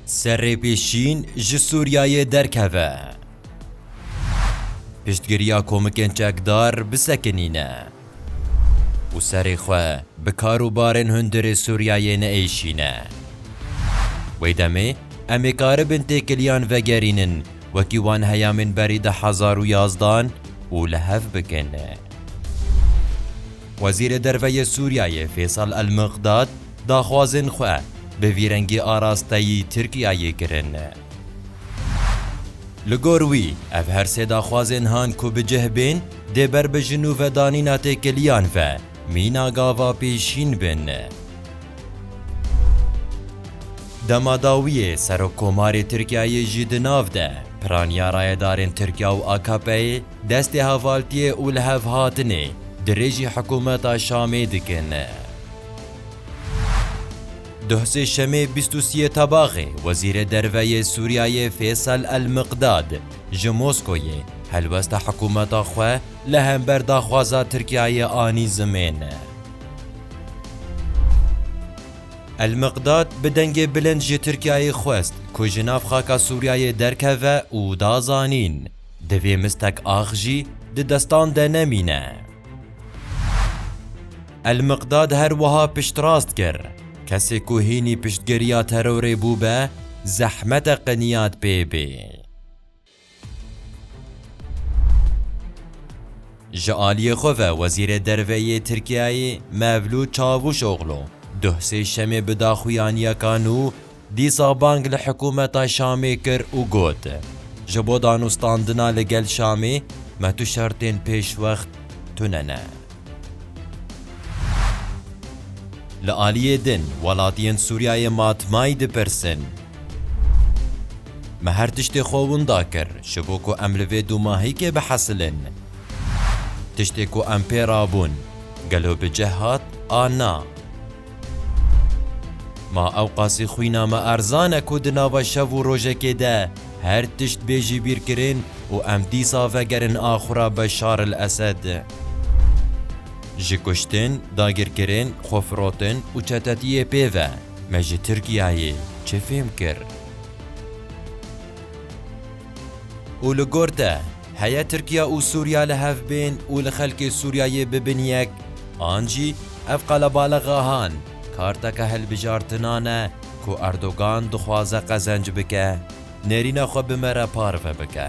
Serê Pêşîn ji Sûriyeyê derkeve. Piştgiriya komikên çekdar bisekinîne. Û serê xwe bi kar û barên hundirê Sûriyeyê neêşîne. Wê demê em ê karibin têkiliyan vegerînin wekî wan heyamên berî di hezar û yazdan û li hev bikin. Wezîrê Derve yê Sûriyeyê Fêsal El-Miqdad, Daxwazên xwe bi vî rengî arasteyî Tirkiyeyê kirin. Li gor wî, ev her sê daxwazên han ku bi cih bên, dê ber bi ji nû vedanîna têkiliyan ve mîna gava pêşîn bin. Dema dawiyê Serokkomarê Tirkiyeyê jî di nav de piraniya rayedarên Tirkiya û AKP'ê destê hevaltiyê û lihevhatinê dirêjî hikûmeta Şamê dikin. Duh Sêşemê bîst û siyê Tebaxê Wezîrê Derve yê Sûriyeyê Fêsel El Miqdad ji Moskoyê helwesta hikûmeta xwe li hember daxwaza Tirkiyeyê anî zimên. El Miqdad bi dengê bilind ji Tirkiyeyê xwest ku ji nav xaka Sûriyeyê derkeve û da zanîn, Divê mistek ax jî di destan de nemîne. El-Miqdad her wiha piştrast kir, Kesê ku hînî piştgiriya terorê bûbe, zehmet e qiniyat pê bê. Ji aliyê xwe ve Wezîrê Derve yê Tirkiyeyê Mevlût Çavûşoglu duh sêşemê bi daxuyaniyekan û Dîsa bang li hikûmeta Şamê kir û got, Ji bo danûstandina li gel Şamê me tu şertên pêşwext tune ne. Li aliyê din welatiyên Sûriyeyê matmayî dipirsin, Me her tiştê xwe winda kir ji bo ku em li vê dûmahîkê bihesilin. Tiştê ku em pê rabûn, gelo bi cih hat an na? Ma ewqasî xwîna me erzan e ku di nava şev û rojekê de her tişt bê jîbîrkirin û em dîsa vegerin axura Beşar el Esed. Ji kuştin, dagirkirin, xwefirotin û çetetiyê pê ve me ji Tirkiyeyê çi fêm kir? Û li gor te, heye Tirkiya û Sûriya li hev bên û li xelkê Sûriyayê bibin yek, an jî ev qelebalixa han karteke hilbijartina ne ku Erdogan dixwaze qezenc bike, nêrîna xwe bi me re parve bike.